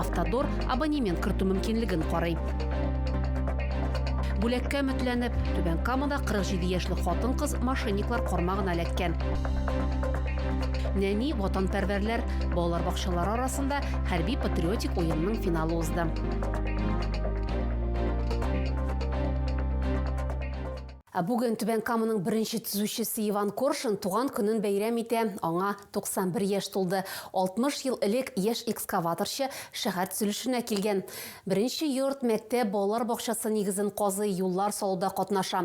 Автодор абонемент кертү мөмкинлеген карый. Бүләккә өметләнеп, Түбән Камада 47 яшьлек хатын-кыз мошенниклар кармагына эләккән. Нәни ватанпәрвәрләр балалар бакчалары арасында хәрби-патриотик уенның финалы узды. Ә бүген Түбән Каманың беренче төзүчесе Иван Коршун туган көнен бәйрәм итә, аңа 91 яшь тулды. 60 ел элек яшь экскаваторчы шәһәр төзелешенә килгән. Беренче йорт, мәктәп, балалар бакчасы нигезен казый, юллар салуда катнаша.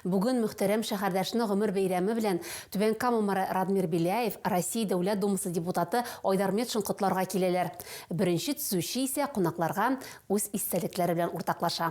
Бүген мөхтәрәм шәһәрдәшне гомер бәйрәме белән Түбән Кама мэры Радмир Беляев, Россия Дәүләт Думасы депутаты Айдар Метшин котларга киләләр. Беренче төзүче исә кунакларга үз истәлекләре белән уртаклаша.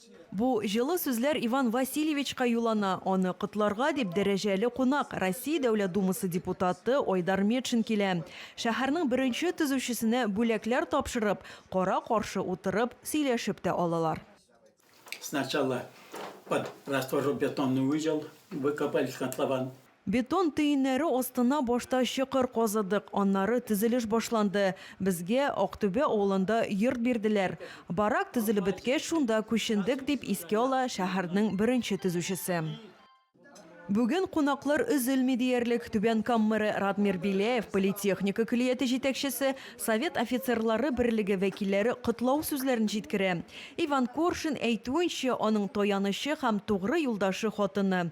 Бу җылы сүзләр Иван Васильевичка юллана, аны котларга дип дәрәҗәле кунак, Россия Дәүләт Думасы депутаты Айдар Метшин килә. Шәһәрнең беренче төзүчесенә бүләкләр тапшырып, кара-каршы утырып, сөйләшеп тә алалар. Сначала под растворобетонный узел выкопали котлован. Бетон төеннәре астына башта чокыр казыдык, аннары төзелеш башланды. Безгә Актүбә авылында йорт бирделәр. Барак төзелеп беткәч, шунда күчендек, дип искә ала шәһәрнең беренче төзүчесе. Бүген кунаклар өзелми диярлек, Түбән Кам мэры Радмир Беляев, политехника көллияте җитәкчесе, Совет офицерлары берлеге вәкилләре котлау сүзләрен җиткерә. Иван Коршин әйтүенчә, аның таянычы һәм тугры юлдашы хатыны,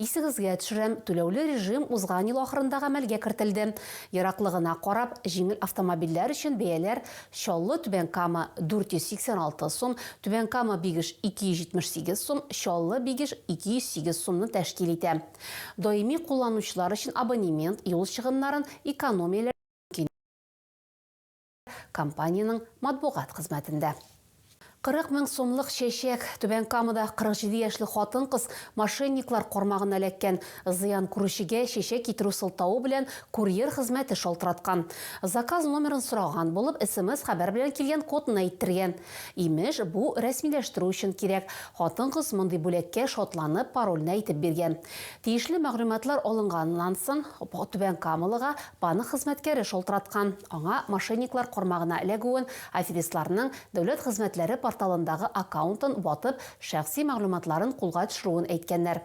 Исегезгә төшерәм, түләүле режим узган ел ахырында гамәлгә кертелде. Ераклыгына карап, җиңел автомобильләр өчен бәяләр Чаллы-Түбән Кама, 486 сум, Түбән Кама-Бигеш, 278 сум, Чаллы-Бигеш, 208 сумны тәшкил итә. Даими кулланучылар өчен абонемент, юл чыгымнарын экономияләргә мөмкин. компаниянең матбугат хезмәтендә. 40 мең сумлык чәчәк, Түбән Камада 47 яшьлек хатын-кыз мошенниклар кармагына эләккән. Зыян күрүчегә чәчәк китерү сылтавы белән курьер хезмәте шалтыраткан. Заказ номерын сораган булып, смс-хәбәр белән килгән кодны әйттергән. Имеш, бу рәсмиләштерү өчен кирәк. Хатын-кыз мондый бүләккә шатланып, парольне әйтеп биргән. Тиешле мәгълүматлар алынганнан соң, түбәнкамалыга Банк хезмәткәре шалтыраткан. Аңа мошенниклар кармагына эләгүен, аферистларның Дәүләт хезмәтләре порталындагы аккаунтын ватып, шәхси мәгълүматларын кулга төшерүен әйткәннәр.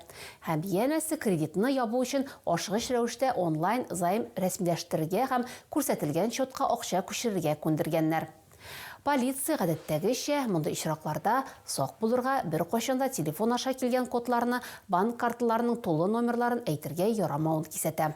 Һәм янәсе кредитны ябу өчен ашыгыч рәвештә онлайн займ рәсмиләштерергә һәм күрсәтелгән счетка акча күчерергә күндергәннәр. Полиция, гадәттәгечә, мондый очракларда сак булырга, беркайчан да телефон аша килгән кодларны, банк карталарының тулы номерларын әйтергә ярамавын кисәтә.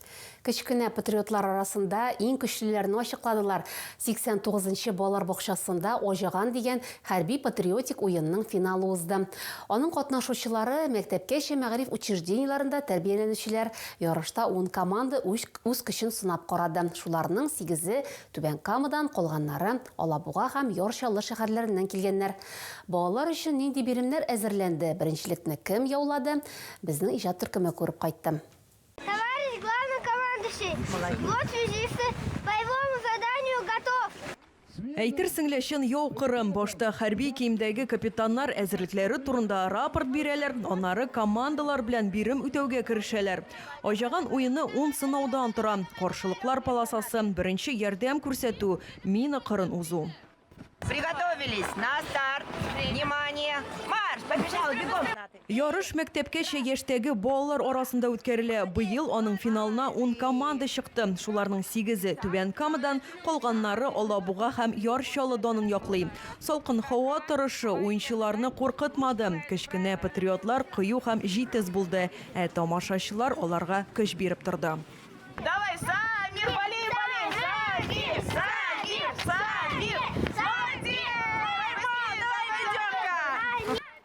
Кечкенә патриотлар арасында иң көчлеләрне ачыкладылар. 89 нчы балалар бакчасында Аҗаган дигән хәрби-патриотик уенның финалы узды. Аның катнашучылары, мәктәпкәчә мәгариф учреждениеләрендә тәрбияләнүчеләр. Ярышта ун команда үз көчен сынап карады. Шуларның сигезе, Түбән Камадан, калганнары, Алабуга һәм Яр Чаллы шәһәрләреннән килгәннәр. Балалар өчен нинди биремнәр әзерләнде, беренчелекне кем яулады, безнең иҗат төркеме күреп кайтты. Товарищ главный командующий, вот связисты боевому заданию готов. Әйтерсең лә чын яу кырым. Башта хәрби киемдәге капитаннар әзерлекләре турында рапорт бирәләр, аннары командалар белән бирем үтәүгә керешәләр. Аҗаган уены ун сынаудан тора. Каршылыклар полосасы, беренче ярдәм күрсәтү, мина кырын узу. Приготовились, на старт, внимание, марш, побежал, бегом. Ярыш мәктәпкәчә яшьтәге балалар арасында үткәрелә. Быел аның финалына 10 команда чыкты. Шуларның 8-е Түбән Камадан, калганнары Алабуга һәм Яр Чаллыданын яклый. Салкын һава торышы уенчыларны куркытмады. Кечкенә патриотлар кыю һәм җитез булды, ә тамашачылар аларга көч биреп торды. Давай, Самир, болей, болей, Самир, Самир, Самир, Самир,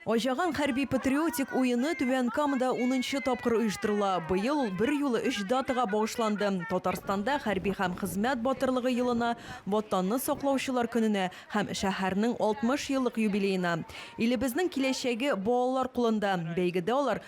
Ачаган хәрби-патриотик уены Түбән Камада 10 тапкыр оештырыла. Быел ул бер юлы өч датага багышланды. Татарстанда хәрби һәм хезмәт батырлыгы елына, Ватанны саклаучылар көненә һәм шәһәрнең 60 еллык юбилеена. Илебезнең киләчәге балалар кулында. Бәйгедә алар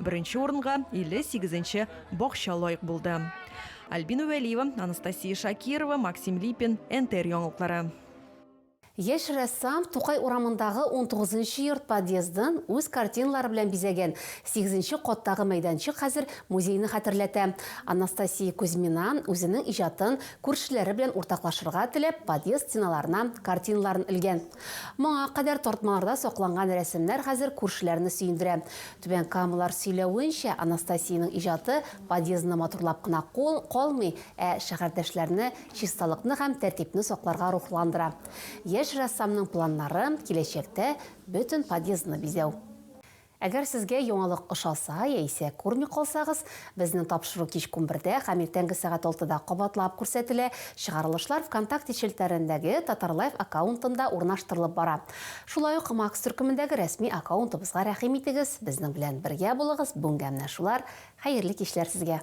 Беренче урынга 58 нче бакча лаек булды. Альбина Вәлиева, Анастасия Шакирова, Максим Липин, НТР яңалыклары. Яшь рәссам Тукай урамындагы 19 нчы йорт подъездын үз картиналары белән бизәгән. Сигезенче каттагы мәйданчык хәзер музейны хәтерләтә. Анастасия Кузьмина, үзенең иҗатын күршеләре белән уртаклашырга теләп, подъезд стеналарына картиналарын элгән. Моңа кадәр тартмаларда сакланган рәсемнәр хәзер күршеләрне сөендерә. Түбән Камалар сөйләвенчә, Анастасиянең иҗаты подъездны матурлап кына кул калмый, ә шәһәрдәшләрне чисталыкны һәм тәртипне сакларга рухландыра. Яшь рәссамның планнары, киләчәктә бөтен подъездны бизәү. Әгәр сезгә яңалык ошаса яисә күрми калсагыз, Безнең тапшыру кич унбердә һәм иртәнге сәгать алтыда кабатлап күрсәтелә. Чыгарылышлар Вконтакте челтәрендәге Татарлайф аккаунтында урнаштырылып бара. Шулай ук Макс төркемендәге рәсми аккаунтыбызга рәхим итегез, безнең белән бергә булыгыз, бүгенгә менә шулар, хәерле кичләр сезгә!